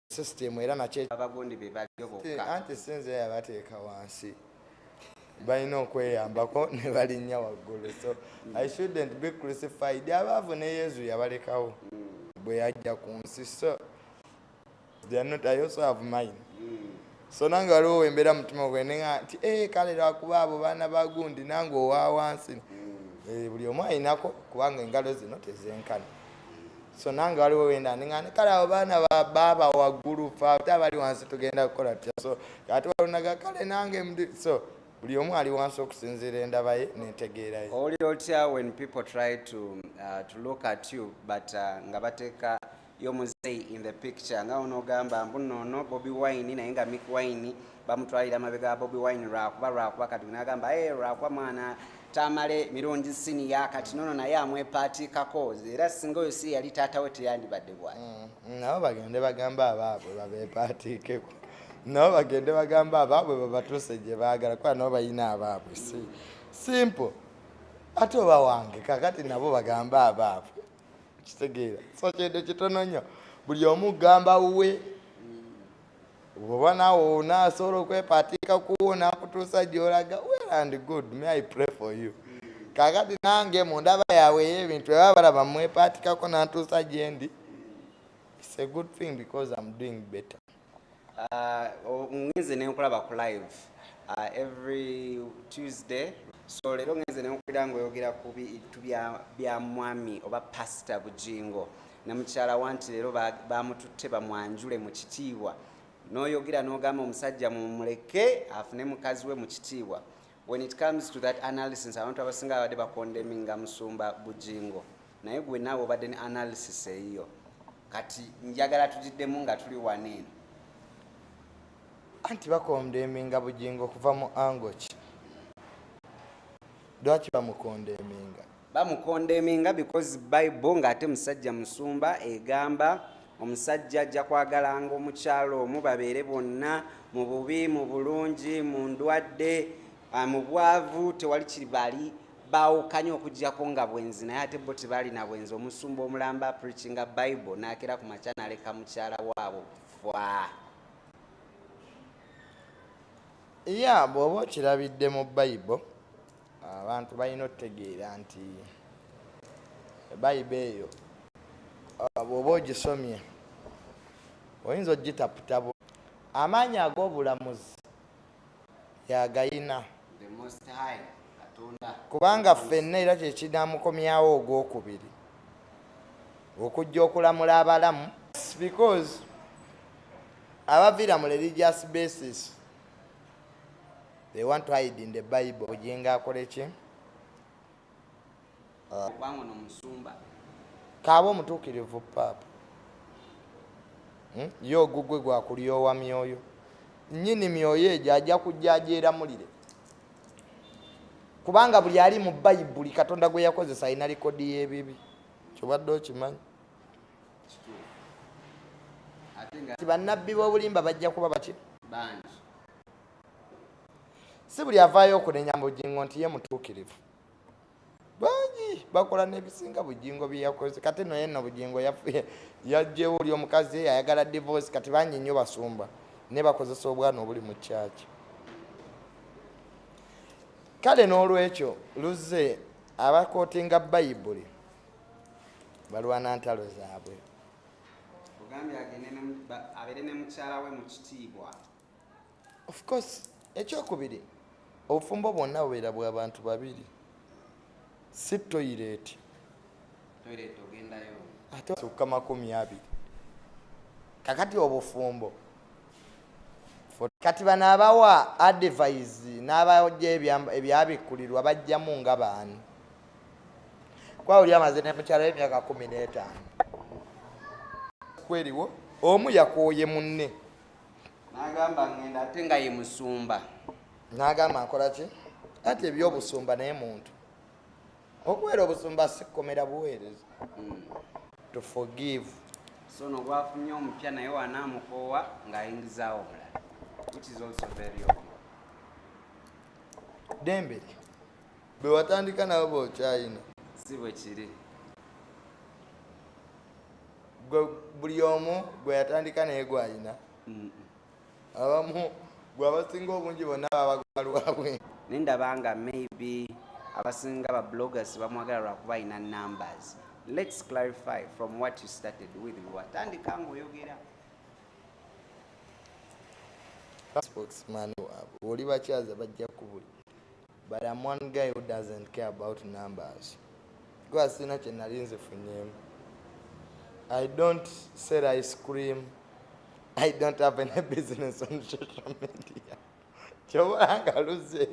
system era nakyo abagundi be baliyo bokka anti sinze yabateeka wansi balina okweyambako ne balinnya waggulu so i shouldn't be crucified abaavu ne yezu yabalekawo mm. bwe yajja ku nsi so they are not i also have mine mm. so nange waliwo wembeera mutima gwe nea nti eh, kale lwakuba abo baana bagundi nange owa wansi eh, buli omu ayinako kubanga engalo zino tezenkana so nange waliwo wenda nengane kale abo baana baaba waggulu fe ate abali wansi tugenda kukola tya so ate walunaga kale nange mdi so buli omu ali wansi okusinziira endaba ye nentegeeraye owulira otya when people try to, uh, to look at you but uh, nga bateeka yo muzeyi in the picture nga onogamba mbuno ono bobi wine naye nga mik wine bamutwalira mabega bobi wine lwakuba lwakuba kati nagamba e eh, lwakuba mwana tamale mirundi siniya kati nono naye amwepatikako era singa oyo si yali taata we teyandibadde bwati mm, mm, nabo bagende bagamba abaabwe babepatikeko nabo bagende bagamba abaabwe babatuse gye baagala kuba nabo balina abaabwe si simple ate oba wange kakati nabo bagamba abaabwe kitegeera so kyende kitono nnyo buli omu gamba wuwe oba naawe onaasobola okwepaatiika kuwo nakutuusa gyolaga well and good me i pray for you kakati nange mu ndaba yaabwe ey'ebintu eba balaba mwepaatikako nantuusa gyendi its a good thing because am doing better Uh, oh, ngenze nenkulaba ku live uh, every tuesday so leero ngenze nenkulira nga oyogera ku bintu bya mwami oba pasita bujingo ne mukyala wa nti leero bamututte bamwanjule mu kitiibwa n'oyogera n'ogamba omusajja mumuleke afune mukazi we mu kitiibwa When it comes to that analysis abantu abasinga babadde bakondeminga musumba bujingo naye gwe naawe obadde ne analysis eyiyo kati njagala tugiddemu nga tuli waneeno anti bakondeminga bujingo kuva mu angoki lwaki bamukondeminga bamukondeminga because bible ng'ate musajja musumba egamba omusajja ajja kwagalanga omukyalo omu babeere bonna mu bubi mu bulungi mu ndwadde ah, mu bwavu tewali kibali bawukanye okujjako nga bwenzi naye ate bo tebalina bwenzi omusumba omulamba preachinga bible nakera ku makya naleka mukyala waabo fwa ya bw'oba okirabidde mu bible abantu balina okutegeera nti bayiba eyo uh, bwoba ogisomye oyinza okugitaputa amaanyi ag'obulamuzi yagayina kubanga ffenna era kyekinamukomyawo ogwokubiri okujja okulamula abalamu because abaviira mu religious basis They want to hide in the Bible. Bujinga akole ki? Uh, Bango no musumba. Kabo mutukirivu pap. Hmm? Yo gugwe gwa kuliyo wa mioyo. Nyini mioyo eje aja kujajera mulire. Kubanga buli ali mu Bible katonda gwe yakoze sayina record ye bibi. Chobadde okimanyi. Ati bannabbi b'obulimba bajja kuba baki? Bangi. si buli avaayo okunenya bujingo nti ye mutuukirivu bangi bakola nebisinga bujingo byeyakoze kati no yenna bujingo yajjewo oli omukazi ayagala divorce kati bangi nnyo basumba ne bakozesa obwana obuli mu kyaki kale n'olwekyo luzze abakootinga bayibuli balwana ntalo zaabwe of course ekyokubiri obufumbo bwonna bubeera bwa bantu babiri si toyireeti ate sukka makumi abiri kakati obufumbo kati bano abawa advise n'abajja ebyabikkulirwa bajjamu nga baani kuba oli amaze ne mukyala emyaka kumi n'etaano kweriwo omu yakooye munne n'agamba ngenda ate nga ye musumba n'agamba nkola ki ati ebyobusumba naye muntu okubeera obusumba sikomera buweereza hmm. to forgive so no gwafunye omupya naye wanaamukoowa ng'ayingizaawo omulala which is also very obvious dembere Bwe watandika nabo bokyayina. Si bwe kiri. Gwe buli omu gwe yatandika naye gwayina. Abamu gwe abasinga obungi bonna baba gwa lwabwe. Naye ndabanga maybe abasinga ba bloggers bamwagala lwakuba alina numbers. Let's clarify from what you started with. Bwe watandika ng'oyogera. Spokesman waabwe. Oli bakyaza bajja kubuli. but I'm one guy who doesn't care about numbers kuba sirina kye nali nzifunyemu I don't sell ice cream I don't have any business on social media kyobola nga luze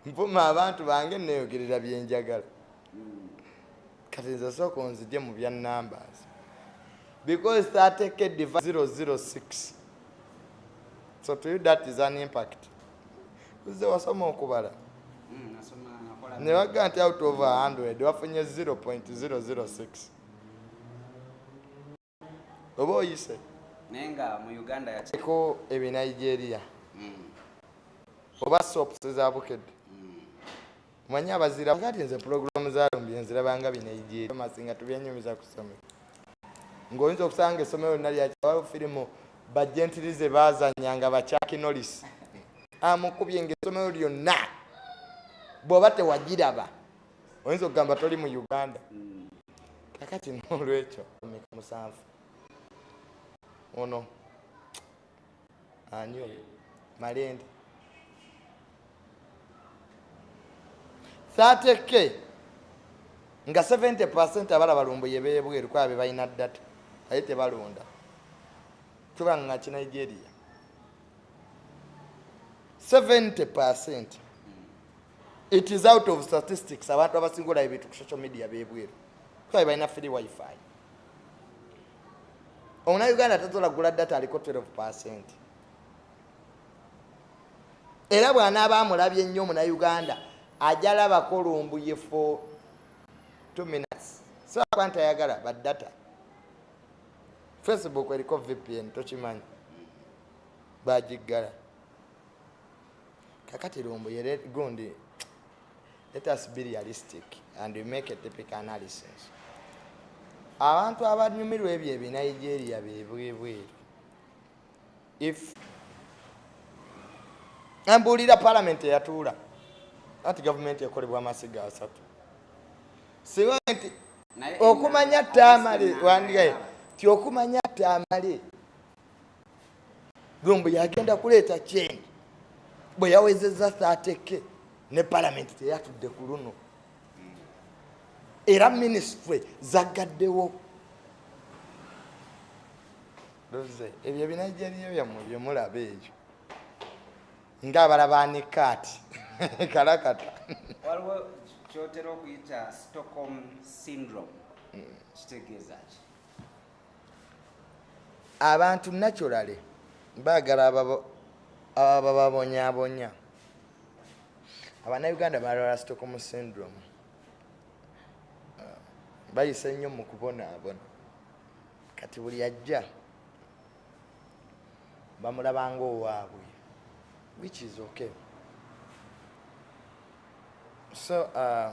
nvuma abantu bange neyogerera byenjagala kati nze sooka onzije mu bya numbers because 30k diva 006 so to you that is an impact uze wasoma okubala mm, ne baga nti out of 100 wafunye 0.006 oba oyise naye nga mu uganda yako ebe nigeria mm. oba sops za bukedde mm. manyi abazira kati nze pulogulaamu zalumbye nzirabanga binigeria masinga tubyenyumiza ku ssomero ng'oyinza okusanga essomero lina lyakiwalo firimu bajentirize bazanya nga bakyakinolisi amukubye ngaessomero lyonna bw'oba tewagiraba oyinza okugamba toli mu uganda mm. kakati nolwekyo musanvu ono anyo malende 30 k nga 70 percent abala balumbuye bebweru kwabe balina data aye tebalonda tuba nga kinigeria 70 percent It is out of statistics abantu abasinga olaba ebintu ku social media bebweru kuba balina free wifi omuna uganda tasobola gula data aliko 12 percent era bwanaaba amulabye nnyo omuna uganda ajalabako olumbuye for 2 minutes sibakuba nti ayagala ba data facebook eriko vpn tokimanyi bagiggala kakati lumbu yere gundi let us be realistic and we make a typical analysis abantu abanyumirwa ebyo ebinigeria bebwebweru if mbuulira palamenti eyatuula anti gavumenti ekolebwa amasiga asatu singa nti okumanya tamale wandigaye ti okumanya tamale lumbu yagenda kuleeta kyendi bwe yawezezza saateke ne palamenti teyatudde ku luno era minisitule zaggaddewo loze ebyo ebinajjaliyo byammwe bye mulaba ebyo ng'abalaba ne kaati kalakata waliwo kyotera okuyita stockholm syndrome kitegeeza ki abantu naturally baagala abababonyabonya abanauganda balwala stockholm syndrome bayise nnyo mu kubonaabona kati buli ajja bamulabanga owaabwe which is okay so uh,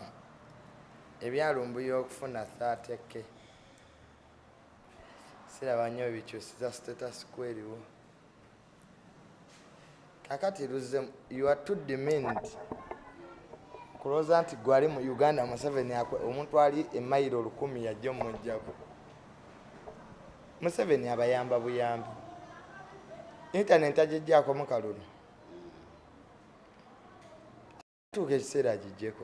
ebyalumbuya okufuna thateke siraba nnyo bikyusiza status kweriwo kakati luzze you are too demand kulowooza nti gwali mu uganda museveni omuntu ali emayiro olukumi yajja omujjako museveni abayamba buyambi intaneti agijjako mukalulu tuuka ekiseera agijjeko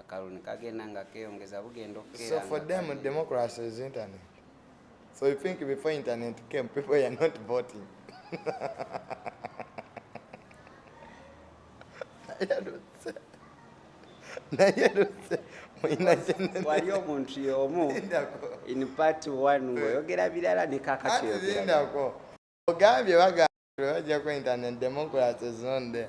akalulu kagenda nga keyongeza bugenda okukeera so for them democracy is internet so you think before internet came people are not voting wali omuntu yomu in part one ngaoyogera birala nekakatyogerako ogambye bagambye bajja ku internet democracy zonde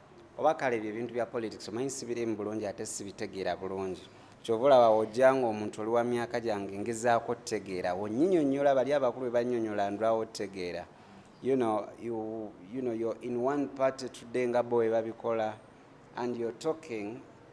oba kale ebyo ebintu bya politics omanyi sibirimu bulungi ate sibitegeera bulungi kyova olaba ojjanga omuntu oli wa myaka gyange ngezaako otegeera wonyinyonyola bali abakulu bebanyonyola ndwawo otegeera you know, you, you know, you're in one party today nga bo webabikola and you're talking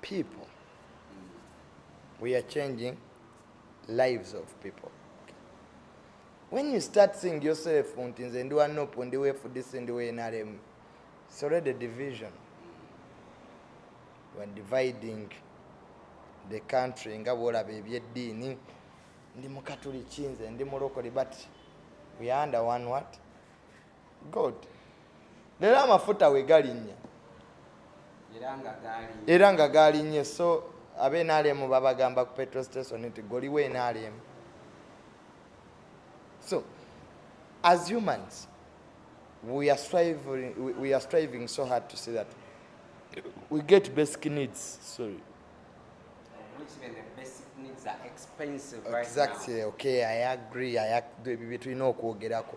people we are changing lives of people when you start seeing yourself nti nze ndi wa nup ndi wa fdc ndi wa nrm it's already division you are dividing the country nga bwolaba ebyeddiini ndi mukatuliki nze ndi mulokole but we are under one what god leero amafuta we galinnya era nga gaalinnye so abe nrm babagamba ku petro station nti goliwo nrm so as humans we are striving, we are striving so hard to see that we get basic needs sorry exactly okay i agree i agree ebyo bye tulina okwogerako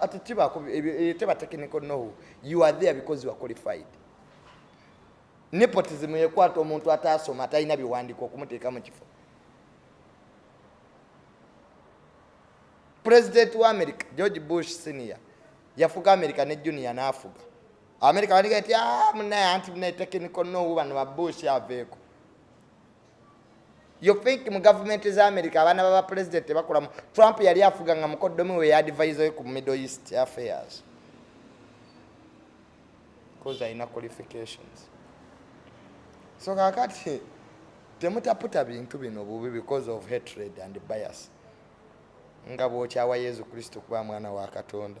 ati tibako eh, teba technical know you are there because you are qualified nepotism yekwata omuntu ataasoma atalina biwandiiko okumuteeka mu kifo pulezidenti wa america george bush senior yafuga america ne junior n'afuga america bandiga ti ah, munaye anti munaye technical know bano ba bush aveeko you think mu government za america abaana baba president tebakulamu trump yali afuga nga mukoddomi we yadvise we ku middle east affairs bcause alina qualifications so kakati temutaputa bintu bino bubi because of hatred and bias nga bwokyawa yesu kristo kuba mwana wa katonda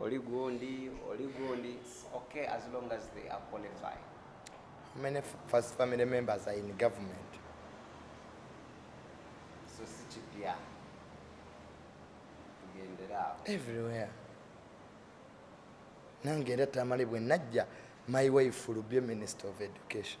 oli gundi oli gundi okay as long as they are qualified how many first family members are in government so si kipya tugendera everywhere nange era tamale bwe najja my wife will be minister of education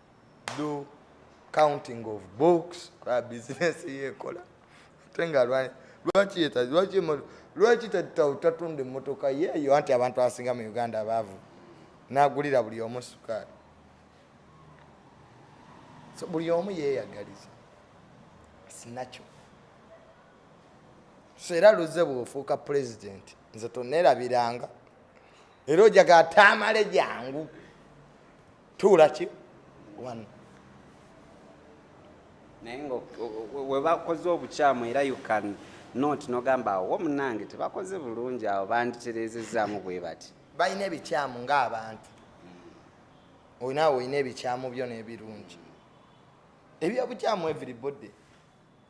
do counting of books kwa business yekola ate nga lwaki lwaki lwaki tatunda emmotoka yeeyo anti abantu abasinga mu uganda abaavu nagulira buli omu sukaali so buli omu yeeyagaliza sinakyo so era luze bwofuuka pulezidenti nze tonerabiranga era ojaga ataamale jangu tuula ki one naye nga webakoze obukyamu era you can not nogamba awo munange tebakoze bulungi awo banditereezezaamu bwe bati balina ebikyamu ng'abantu hmm. olinawe olina ebikyamu byo n'ebirungi ebyobukyamu everybody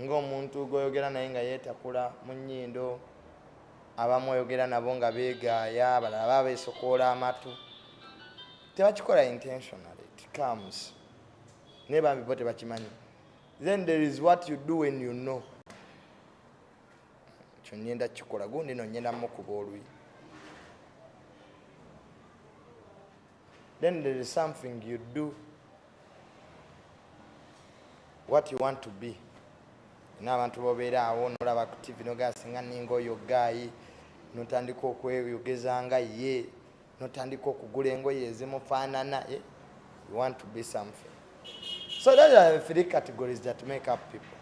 ng'omuntu gwoyogera naye nga yeetakula mu nnyindo abamu oyogera nabo nga beegaaya abalala baba beesokoola amatu tebakikola intentionally it comes naye bambi bo tebakimanyi then there is what you do when you know ekyo ngenda kikola gundi no ngenda mukuba oluyi then there is something you do what you want to be n'abantu bobeera awo nolaba ku tv nogera singa ninga oyo gaayi notandika okweyogeza nga ye notandika okugula engoye ezimufaanana eh? you want to be something so those are the three categories that make up people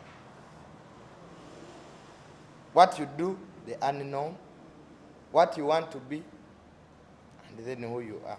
what you do the unknown what you want to be and then who you are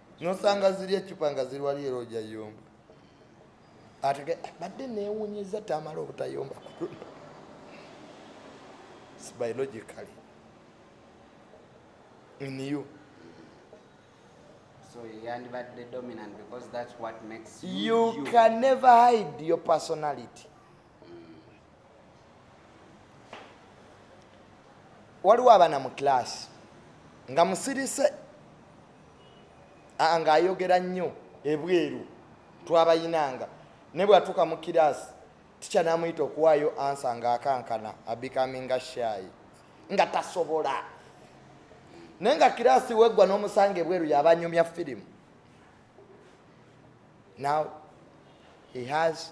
nosanga ziri ecupa nga ziri wali era ojayomba atege ah, badde newunyeza tamala obutayomba biologically in you so yandibadde dominant because that's what makes you, you, you can never hide your personality waliwo abaana mu kilaasi nga musirise ng'ayogera nnyo ebweru twabayinanga ne bwatuuka mu kiraasi tikya namuyita okuwaayo ansa ng'akankana abikaminga shaayi nga tasobola naye nga kiraasi weggwa n'omusanga ebweru yabanyumya firimu now he has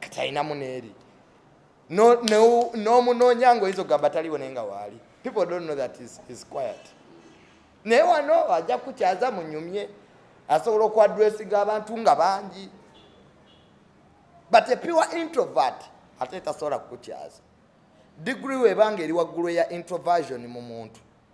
katalinamu neeri n'omunoonya no, no, oyinza okugamba taliwo naye nga waali people don't know that is, is quiet naye wano ajja kukyaza munyumye asobola okuadressinga abantu nga bangi but a pure introvert ate tasobola kukukyaza digiri webanga eri waggulu eya introversion mu muntu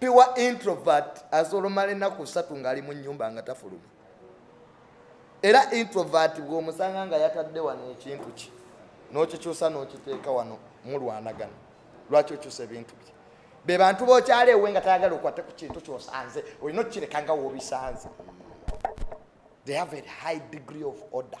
pure introvert asolomala ennaku ssatu ng'ali mu nnyumba nga tafuluma era introvert bw'omusanga nga yatadde wano ekintu kye n'okikyusa n'okiteeka wano mulwanagana lwaki okyusa ebintu bye be bantu bokyala ewe nga tayagala okwate ku kintu kyosanze olina okukireka nga wobisanze they have a high degree of order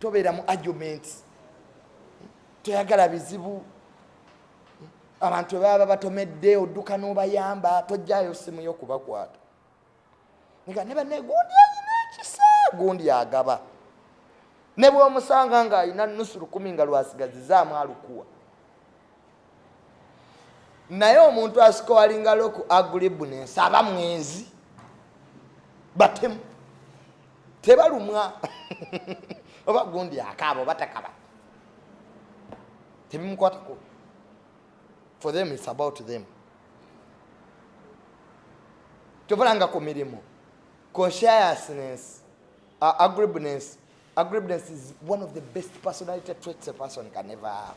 tobeera mu argument toyagala bizibu abantu baba batomedde odduka n'obayamba tojjayo simu yo kubakwata nga ne banne gundi alina ekisa gundi agaba ne bwomusanga ng'alina nusu lukumi nga lwasigazizaamu alukuwa naye omuntu asikowalinga loku agribu nensaba mwenzi batemu tebalumwa oba gundi akaaba oba takaba tebimukwatako for them its about them tobalanga ku mirimu consciousness uh, agreeableness agreeableness is one of the best personality traits a person can ever have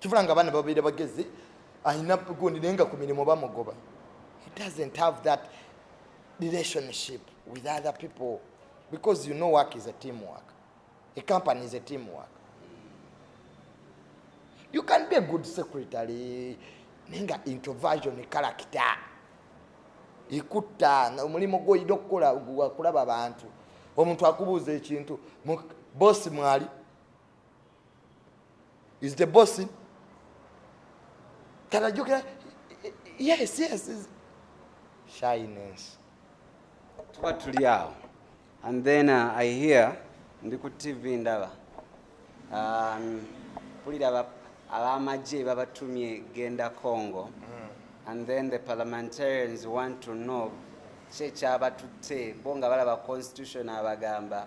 kivula nga abaana babeera bagezi alina gundi naye nga ku mirimu bamugoba he doesn't have that relationship with other people because you know work is a team work a company is a team work you can be a good secretary naye nga introversion kalakita ekutta omulimu gwoyina okukola wakulaba bantu omuntu akubuuza ekintu bosi mwali is the boss kanajukira yes yes is shyness tuba tuli awo and then uh, i hear ndi ku tv ndaba um, mpulira abamagye babatumye genda congo mm. and then the parliamentarians want to know kyekyabatutte bo nga balaba constitution abagamba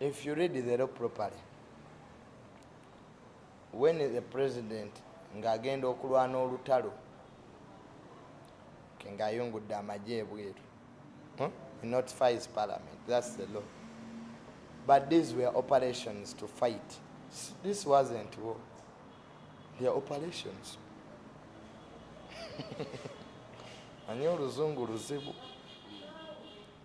If you read the law properly, when the president ng'agenda okulwana olutalo ke ng'ayungudde amagye ebweru hmm? he notifies parliament that's the law but these were operations to fight this wasn't war they are operations anye oluzungu luzibu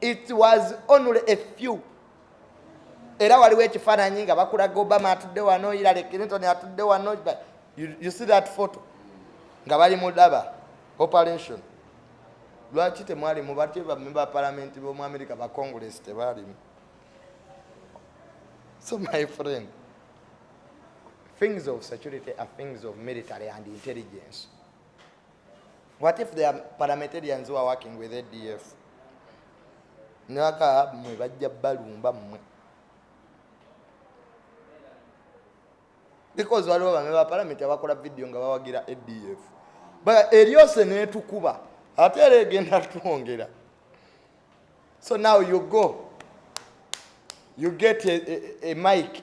it was only a few era waliwo ekifaananyi nga bakulaga obama atudde wano hilary clinton atudde wano you, you see that photo nga bali mu daba operation lwaki temwalimu batye bamemba ba palamenti bomu amerika ba congress tebalimu so my friend things of security are things of military and intelligence What if they are parliamentarians who are working with ADF? Naka mwe bajja balumba mwe. Because waliwo bamwe ba parliament abakola video nga bawagira ADF. But Eliose netukuba ate era egenda twongera. So now you go. You get a, a, a mic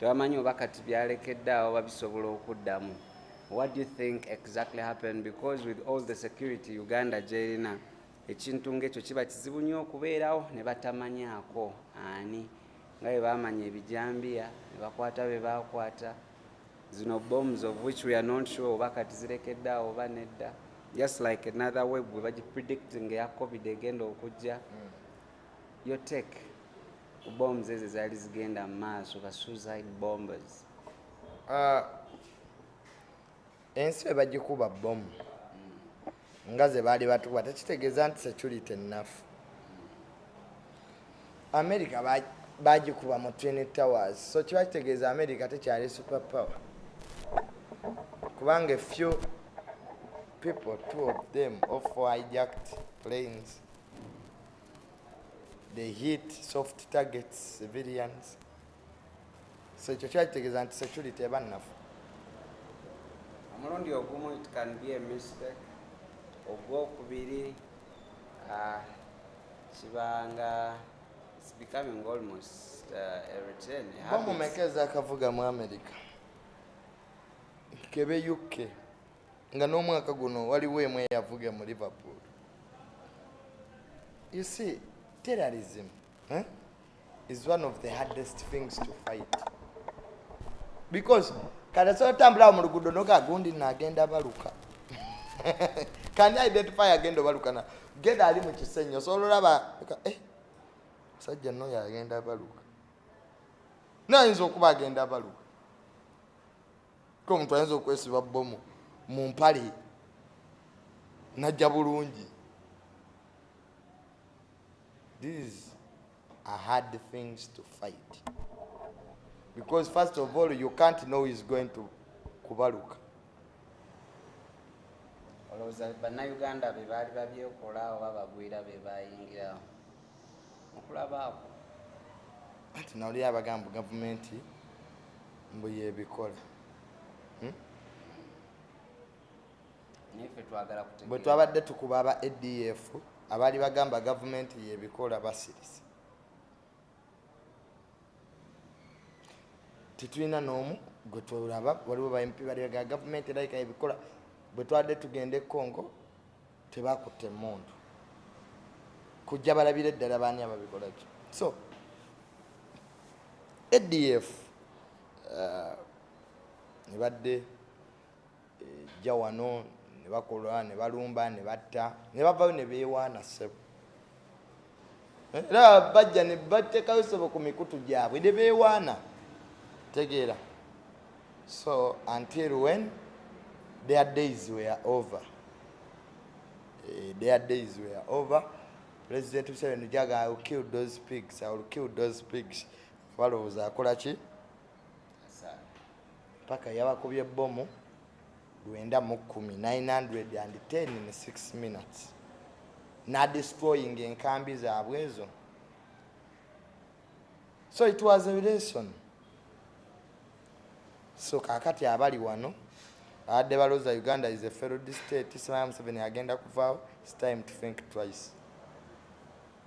tebamanyi oba kati byalekedde awo babisobola okuddamu what do you think exactly happened because with all the security uganda gyerina ekintu ngaekyo kiba kizibu nnyo okubeerawo ne batamanyaako ani nga bwe bamanya ebijambiya ne bakwata be bakwata zino bombs of which we are not sure oba kati zirekedde awo oba nedda just like another web bwe bagipredicting eya covid egenda okujja mm. yo tek ku bombs ezo ezaali zigenda mu maaso ba suicide bombers ah, ensi bebagikuba bomu nga ze baali batukuba tekitegeeza nti security ennafu america bagikuba mu twin towers so kiba kitegeeza america tekyali super power kubanga few people two of them of hijacked planes they hit soft targets civilians so ekyo kyakitegeeza nti security eba nnafu omulundi ogumu it can be a mistake ogwokubiri uh, kibanga it's becoming almost uh, a return bamumekeza akavuga mu america kebe uk nga n'omwaka guno waliwo emu eyavuge mu liverpool you see terrorism eh, is one of the hardest things to fight because kati asobola otambulawo mu luguudo noga agundi nagenda baluka kani identify agenda obalukana genda ali mu kisenyi osobola olaba eh, musajja noyo agenda baluka nayinza okuba agenda baluka ko omuntu ayinza okwesiba bbomu mu mpale najja bulungi these are hard things to fight because first of all you can't know is going to kubaluka olowooza bannayuganda be baali babyekola oba bagwira be bayingirawo okulabaako anti nawulira abagamba gavumenti mbu yebikola hmm? bwe twabadde tukuba aba adf abaali bagamba gavumenti yebikola basirise tetulina n'omu gwe twolaba waliwo bampi baliga gavumenti erayika yebikola bwe twabadde tugenda e congo tebakutte emundu kujja balabira eddala baani ababikolaki so adf uh, nebadde ejja eh, wano nebakola nebalumba nebatta nebavayo nebewaana sebo era bajja ne batekayo sebo ku mikutu gyabwe ne beewaana tegeera so until when their days were over eh, their days were over president museveni jaga i will kill those pigs i will kill those pigs balowooza akola ki paka yabakubye bomu lwenda mu kkumi 910 in 6 minutes nadestroying enkambi zaabwe ezo so it was a lesson so kakati abali wano abadde baloza uganda is a failed state islam seven agenda kuvaawo its time to think twice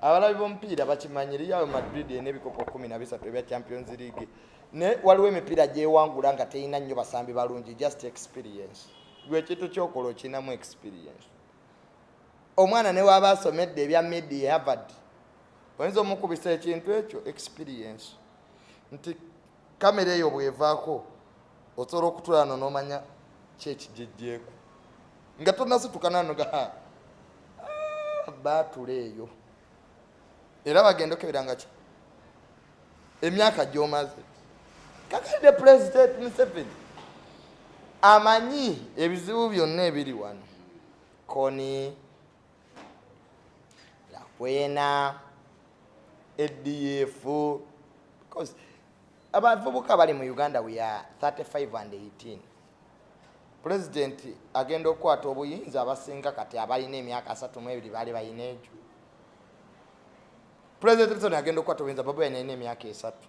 abalabi b'omupiira bakimanyi real madrid erina ebikopo kumi na bisatu ebya champions league ne waliwo emipiira gyewangula nga terina nnyo basambi balungi just experience gwe ekintu kyokola okinamu experience omwana newaaba asomedde ebya medi havard oyinza omukubisa ekintu ekyo experience nti kamera eyo bwevaako osobola okutulano nomanya kyekijejjeeko nga tonasitukananoga ah, baatula eyo era bagenda okeberanga ki emyaka gyomaze kakalide pulezidenti museveni amanyi ebizibu byonna ebiri wano koni lakwena adf because abavubuka bali mu uganda we are 35 and 18 pulezidenti agenda okukwata obuyinza abasinga kati abalina emyaka asatu mu ebiri baali balina egyo pulezidenti agenda okukwata obuyinza babaina ina emyaka esatu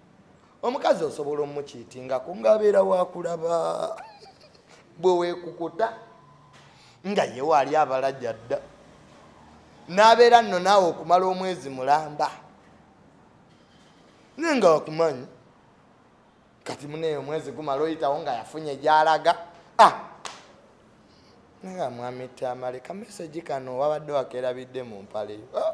omukazi osobola omukiitingako ngaabeera wakulaba bwewekukuta nga yewaali abalaja dda n'abeera nno naawe okumala omwezi mulamba naye nga wakumanyi kati muneyo omwezi gumala oyitawo nga yafunye gyalaga ah! naye amwami tamale kamesegi kano wabadde wakerabidde mu mpaleyo ah!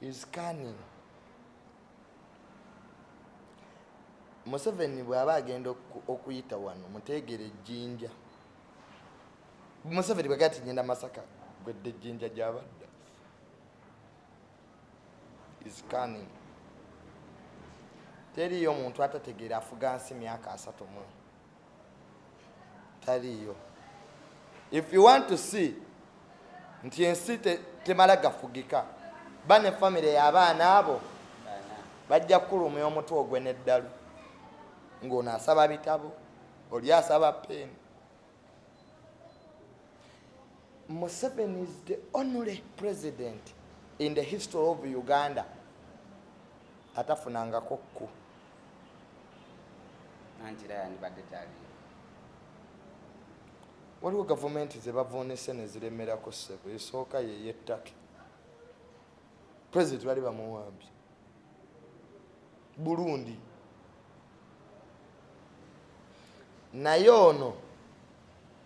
is cunning. Museveni bw'aba agenda okuyita wano muteegere ejjinja. Museveni bwegati ngenda Masaka gwedde ejjinja gy'abadda is cunning. Teriiyo muntu atategeera afuga nsi myaka asatu mu taliiyo if you want to see nti ensi temala gafugika ba ne famire y'abaana abo bajja kukulumya omutwe ogwe n'eddalu ng'ono asaba bitabo oli asaba peeni museveni is the only president in the history of uganda atafunangako ku anti era yandibadde taliyo waliwo gavumenti zebavuunise neziremerako ssebo esooka yeyettake president bali bamuwambye burundi naye ono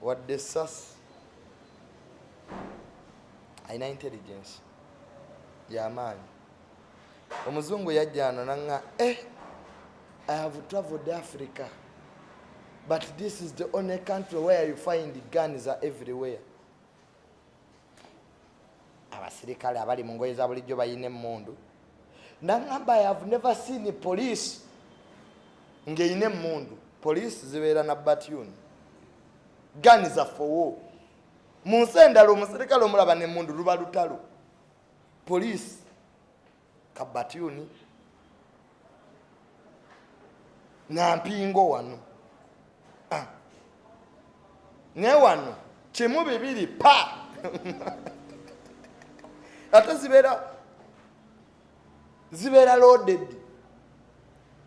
wadde esasi alina intelligence yamaanyi omuzungu yajjano nanga eh, i have traveled africa but this is the only country where you find guns are everywhere abasirikale abali mu ngoye za bulijjo bayina emmundu nangamba i have never seen police ng'erina emmundu police zibeera na batune gani zaffe wo mu nsi endala omusirikale omulaba n'emmundu luba lutalo Poliisi kabatyuni na mpingo wano ah. ne wano kimu bibiri pa ate zibeera zibeera loaded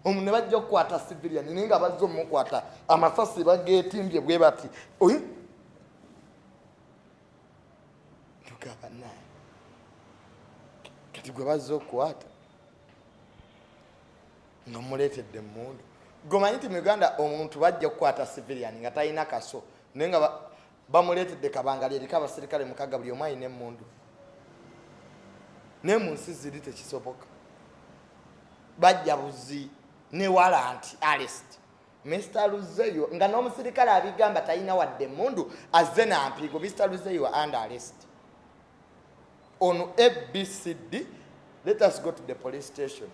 omu ne bajja okukwata civilian naye nga bazze omukwata amasasi bageetimbye bwe bati tugamba naye kati gwe bazza okukwata nga muleetedde emmundu gomanyi nti mu uganda omuntu bajja okukwata civilian nga talina kaso naye nga bamuleetedde kabanga lyeriko abaserikale mukaga buli omu alina emmundu naye mu nsi ziri tekisoboka bajja buzi newala nti alest Mr. Luzeyo nga n'omusirikale abigamba talina wadde mundu azze na mpiigo Mr. Luzeyo and arrest on ABCD let us go to the police station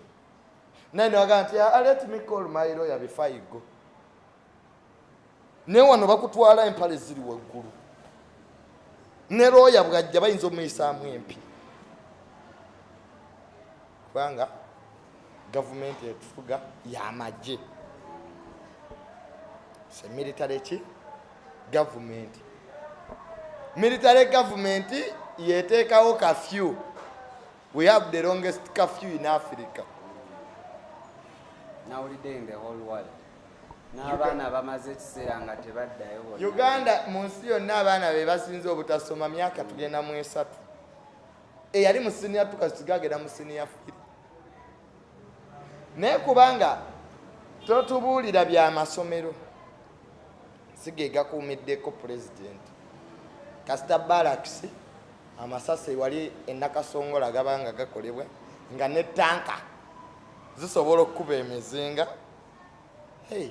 naye newagamba nti ah, let me call my lawyer before you go naye wano bakutwala empale ziri waggulu ne looya bwajja bayinza omuyisaamu empi kubanga gavumenti etufuga yamagye se military ki gavumenti military gavumenti yeteekawo kafyu we have the longest kafyu in africa n'abaana bamaze ekiseera nga tebaddayo uganda mu nsi yonna abaana be basinze obutasoma myaka tugenda mu esatu eyali mu siniya tukasige agenda mu siniya firi naye kubanga totubuulira bya masomero sigegakuumiddeko pulezidenti kasita balakisi amasasi wali enakasongola gabanga gakolebwa nga ne tanka zisobola okukuba emizinga hey.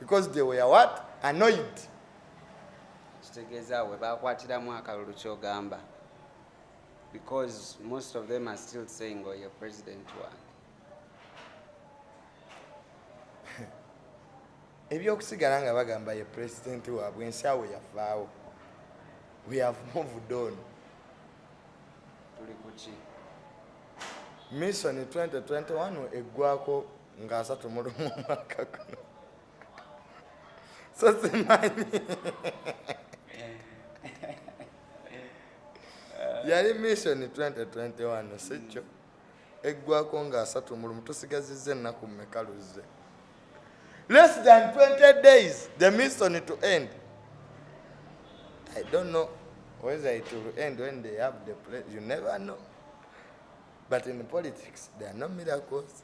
because they were what annoyed kitegeeza we bakwatiramu akalulu kyogamba because most of them are still saying oyo oh, president wange ebyokusigala nga bagamba ye president waabwe ensi awo yavaawo we have moved on tuli kuki mission 2021 eggwako nga asatu mu lumu omwaka guno so simanyi yali mission 2021 sikyo eggwako nga asatu mu lumu tusigazizza ennaku mmeka luzze less than 20 days the mission to end i don't know whether it will end when they have the place you never know but in politics there are no miracles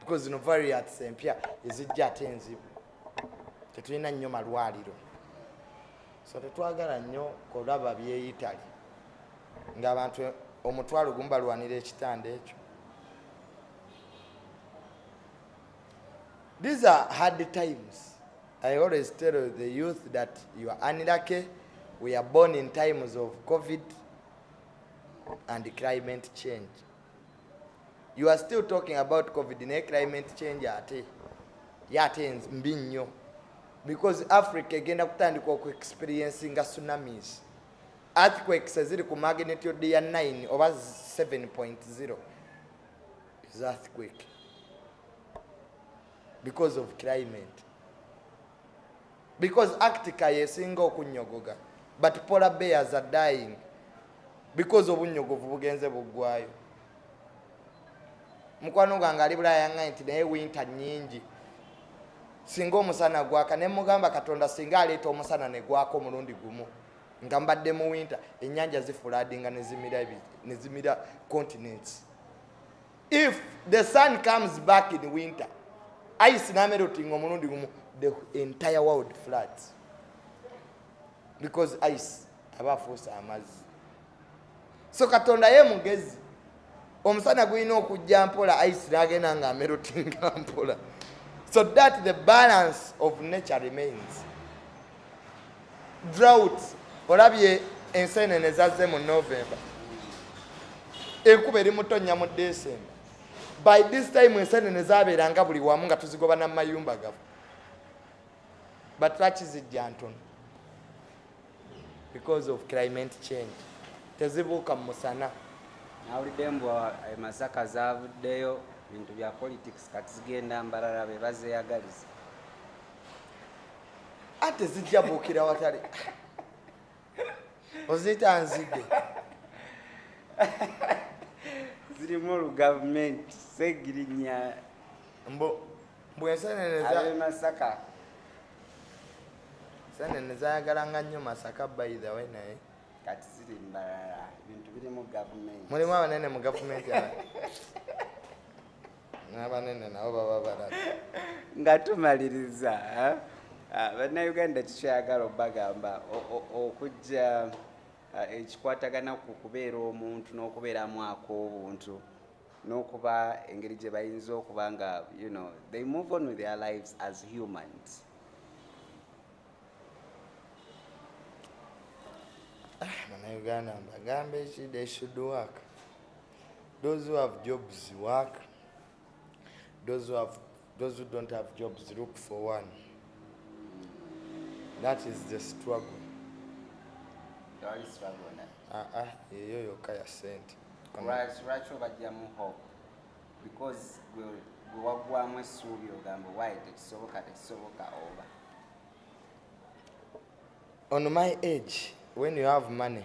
because zino variants empya ezijja ate enzibu tetulina nnyo malwaliro so tetwagala nnyo kulaba byeyitali ngaabantu omutwalo gumu balwanira ekitanda ekyo these are hard times i always tell the youth that you are unlucky we are born in times of covid and climate change you are still talking about covid naye climate change ate ye ate mbi nnyo because africa egenda kutandika oku experiencinga tsunamis earthquakes eziri ku magnitude ya 9 oba 7.0 is earthquake because of climate because actica yesinga okunyogoga but polar bears are dying because obunyogovu bugenze buggwayo mukwano gwange ali bulaya nga nti naye winta nyingi singa omusana gwaka ne mugamba katonda singa aleeta omusana ne gwaka omulundi gumu nga mbadde mu winta ennyanja zifuladinga nezimira continents if the sun comes back in winter ice namerotinga omulundi gumu the entire world floods because ice aba afuusa amazzi so katonda ye mugezi omusana gulina okujja mpola ice nagenda nga amerotinga mpola so that the balance of nature remains drought olabye enseenene zazze mu november enkuba eri mutonnya mu december by this time enseenene zabeeranga buli wamu nga tuzigoba namayumba gafu but lwaki zijja ntono because of climate change tezibuuka mu musana nawulidde mbu emasaka eh, zavuddeyo bintu bya politics kati zigenda mbarara bebazeyagaliza ate zijja buukira watali oziyita nzige zirimu olugavumenti segirinya mbu bwensenenezamasaka senene zayagalanga nnyo masaka by the way naye kati ziri mbalala ebintu biri mu gavumenti mulimu abanene mu gavumenti n'abanene nabo baba balaba nga tumaliriza eh? ah, bannayuganda tukyagala obagamba okujja ah, ekikwatagana ku kubeera omuntu n'okubeeramu ak'obuntu n'okuba engeri gye bayinza okuba nga you know they move on with their lives as humans ah, bannayuganda mbagambe ki they should work Those who have jobs work. Those who have those who don't have jobs look for one. That is the struggle. Yali struggle na. Ah ah, yeyo yokka ya sente. Lwaki obajjamu hope? Because gwe waggwamu essuubi ogamba why tekisoboka tekisoboka oba. On my age, when you have money,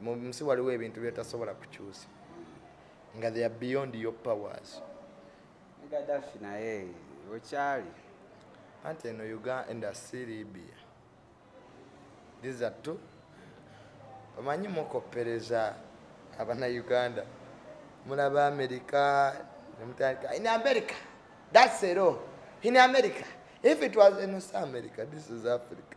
mu nsi waliwo ebintu byetasobola kukyusa nga they are beyond your powers gadafi naye okyali anti eno uganda si libia these are two omanyi mukoppereza abana uganda mulaba amerika nemutandika in america that's ero in america if it was in south america this is africa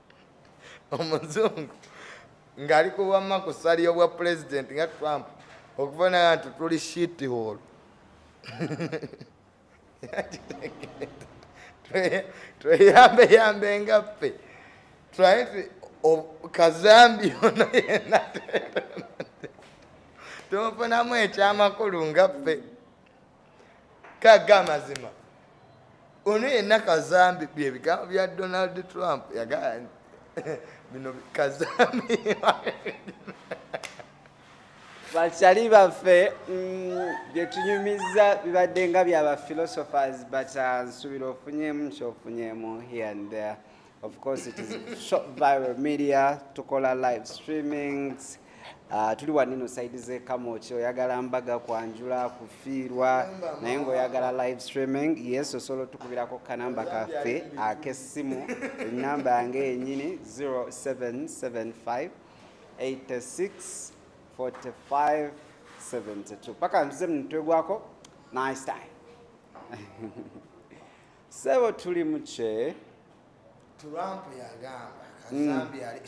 omuzungu ng'ali ku bwamma ku sali y'obwa pulezidenti nga trump okufanana nti tuli shiti holo tweyambeyambe nga ffe twaye kazambi ono yena tumufunamu ekyamakulu nga ffe kaga amazima ono yenna kazambi byebigambo bya donald trump yagaa bino kazambi bakyali baffe mm, byetunyumiza bibadde nga byaba philosophers but uh, nsuubira ofunyemu kyofunyemu here and there Of course it is short viral media tukola live streamings uh, tuli wanino side ze kamoki oyagala mbaga kwanjula kufiirwa naye ngaoyagala live streaming yes osobola otukubirako kanamba kaffe akessimu enamba yange yenyini 0775 86 45 72 paka ntuze mumutwe gwako nice time Sebo tuli muche. Trump yagamba kazambi mm. ali